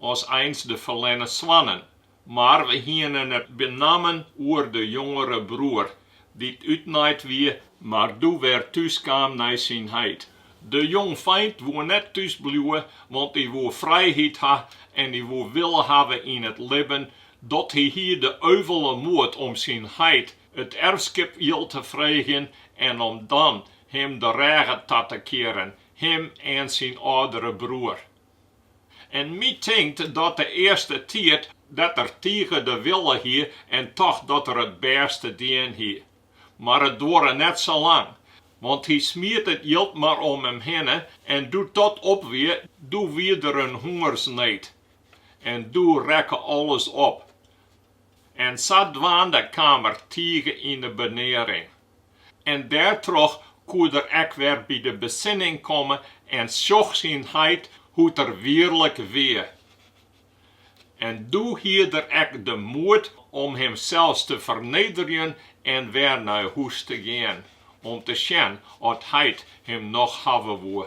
as eins de ferlerne soannen, mar we hiene it benammen oer de jongere broer, dy't útnaaid wie, mar doe wer thús kaam nei syn heit. De jongfeint woe net thús bliuwe, want dy woe frijheid ha en dy woe wille hawwe yn it libben dat hy hie de euvele moed om syn heit it erfskip jild te freegjen en om dan him de rêge ta te kearen, him en syn âldere broer. En my tinkt dat de earste tiid dat er tige de wille hie en tocht dat er it bêste dien hie. Mar it duorre net sa lang, want hy smiet it jild mar om him hinne en doe't dat op wie, doe wie der in hûngersneed en doe rekke alles op. en sadwaande kaam er tige yn 'e benearing. En dêrtroch koe er ek wer by de besinning komme en sjoch syn heit hoe't er wierlik wie. En doe hie er ek de moed om himsels te fernederjen en wer nei hûs te gean, om te sjen oft heit him noch hawwe woe.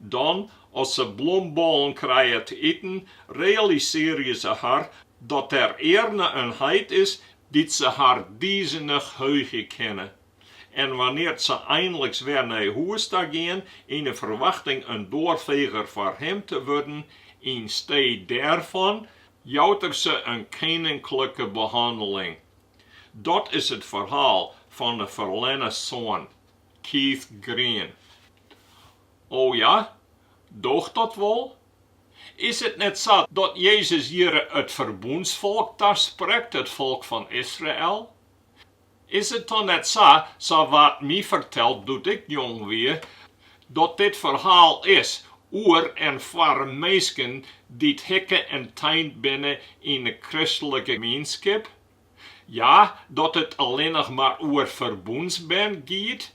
Dan, as se blombollen krije te iten, realisearje se har dat der earne in heit is dy't se har dizenich heugje kinne. En wannear't se einliks wer nei hûs ta gean, yn 'e ferwachting in doarfeger foar him te wurden, ynstee dêrfan jout er se in keninklike behanneling. Dat is it ferhaal fan 'e ferlerne soan. Keith Green, O ja, doocht dat wol? Is it net sa dat Jezus hjirre it ferbûnsfolk tasprekt, it folk fan Israel? Is it dan net sa, sa waard my ferteld doe't ik jong wie, dat dit ferhaal is oer en foar minsken dy't hikke en teind binne yn 'e kristlike gemeenskip? Ja, dat it allinnich mar oer ferbûnsbern giet.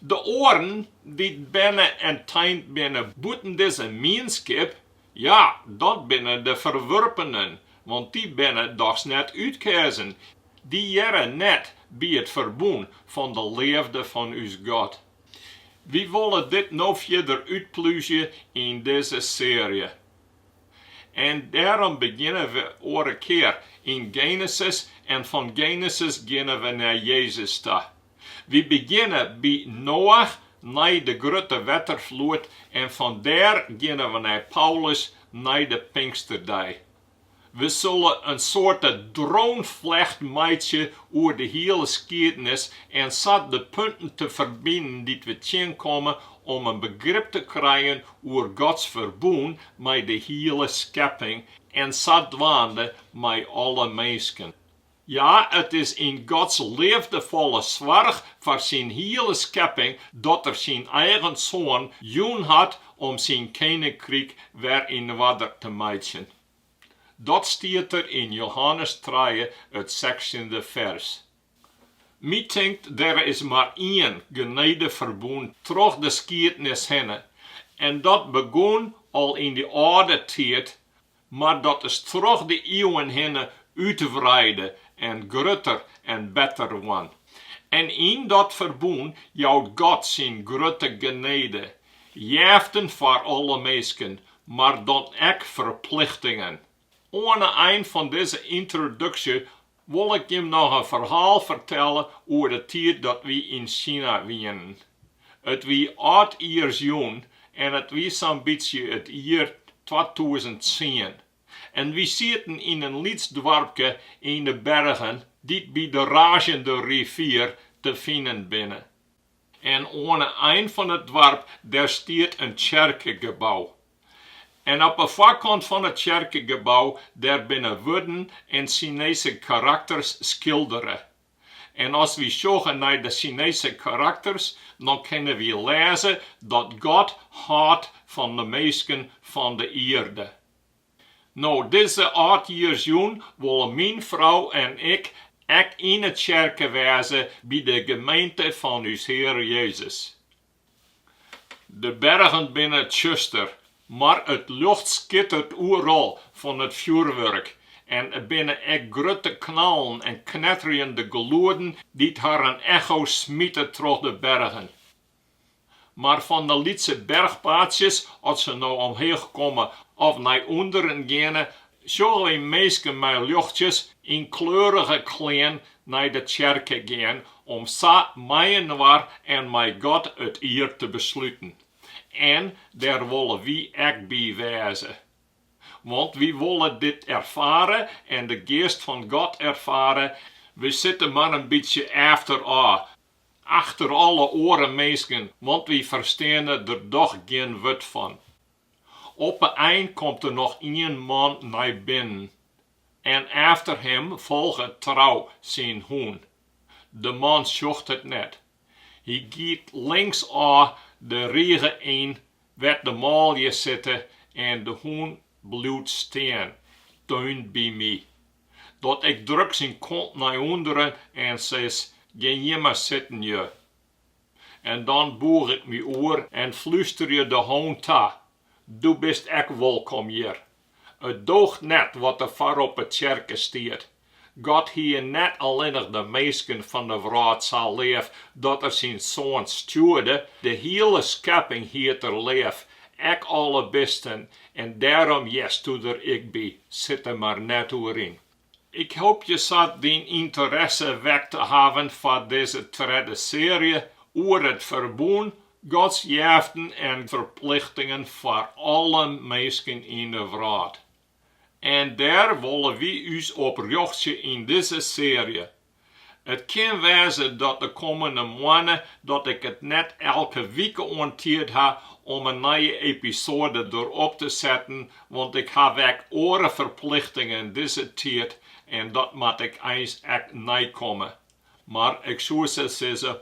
De oaren, dy't berne en teind binne bûten dizze mienskip, ja, dat binne de ferwurpenen, want dy binne dochs net útkeazen, dy hearre net by it ferbûn fan de leafde fan ús God. Wy wolle dit no fierder útplúzje yn dizze searje. En dêrom begjinne we oare kear yn Genesis en fan Genesis geane we nei Jezus ta. Wy begjinne by Noach nei de grutte wetterfloed en fan dêr geane we nei Paulus nei de Pinksterdei. We sille in soarte droneflecht meitsje oer de hiele skiednis en sa de punten te ferbinden dy't we tsjinkomme om in begrip te krijen oer Gods ferbûn mei de hiele skepping en sadwaande mei alle minsken. Ja, it is yn Gods leafdefolle soarch foar syn hiele skepping dat er syn eigen Soan jûn hat om syn keninkryk wer yn oarder te meitsjen. Dat stiet der yn Johannes trije, it sechstjinde fers. My tinkt der is mar ien genedeferbûn troch de skiednis hinne en dat begûn al yn dy âlde tiid, mar dat is troch de iuwen hinne útwreide en grutter en better wurden. En yn dat ferbûn jout God syn grutte genedejeften foar alle minsken, mar dan ek ferplichtingen. Oan 'e ein fan dizze yntroduksje wol ik jim noch in ferhaal fertelle oer de tiid dat wy yn Sina wienen. It wie âldjiersjûn en it wie sa'n bytsje it jier twatûzen tsien en wy sieten yn in lyts doarpke yn 'e bergen dy't by de Razjende Rivier te finen binne. En oan 'e ein fan it doarp dêr stiet in tsjerkegebou. En op 'e foarkant fan it tsjerkegebou dêr binne wurden en Sinese karakters skildere. En as wy sjogge nei de Sinese karakters, dan kinne wy lêze dat God hâldt fan de minsken fan de ierde. No dizze âldjiersjûn wolle myn frou en ik ek yn 'e tsjerke wêze by de gemeente fan ús Heare Jezus. De bergen binne tsjuster, mar it ljocht skittert oeral fan it fjoerwurk en der binne ek grutte knallen en knetterjende gelueden dy't harren echo's smite troch de bergen. Mar fan de lytse berchpaadsjes, oft se no omheech komme of nei ûnderen geane, sjogge wy minsken mei ljochtsjes yn kleurige klean nei de tsjerke gean om sa mei-inoar en mei God it jier te besluten. En dêr wolle wy ek by wêze. Want wy wolle dit erfare en de Geast fan God erfare, wy sitte mar in bytsje efterôf Achter alle oare minsken, want wy fersteane der dochs gjin wurd fan. Op 'e ein komt der noch ien man nei binnen en efter him folget trou syn hûn. De man sjocht it net. Hy giet linksôf de rige yn wêr't de manlju sitte en de hûn bliuwt stean, dan Dat ik druk syn kont nei ûnderen en sis, Gean mar sitten, ju. En dan boech ik my oer en flusterje de hûn ta, Do bist ek wolkom hjir. It doocht net wat der foar op 'e tsjerke stiet. God hie net allinnich de minsken fan 'e wrâld sa leaf dat er syn Soan stjoerde, de hiele skepping hie er leaf, ek alle bisten En dêrom hearsto der ek by, sit der mar net oer yn. Ik hoopje sa dyn ynteresse wekt te hawwen foar dizze tredde searje oer it ferbûn, Gods jeften en ferplichtingen foar alle minsken yn de wrâld. En dêr wolle wy ús op rjochtsje yn dizze searje, It kin wêze dat de kommende moanne dat ik it net elke wike oan tiid ha om in nije episoade derop te setten, want ik haw ek oare ferplichtingen dizze tiid en dat moat ik eins ek neikomme. Mar ik soe sa sizze,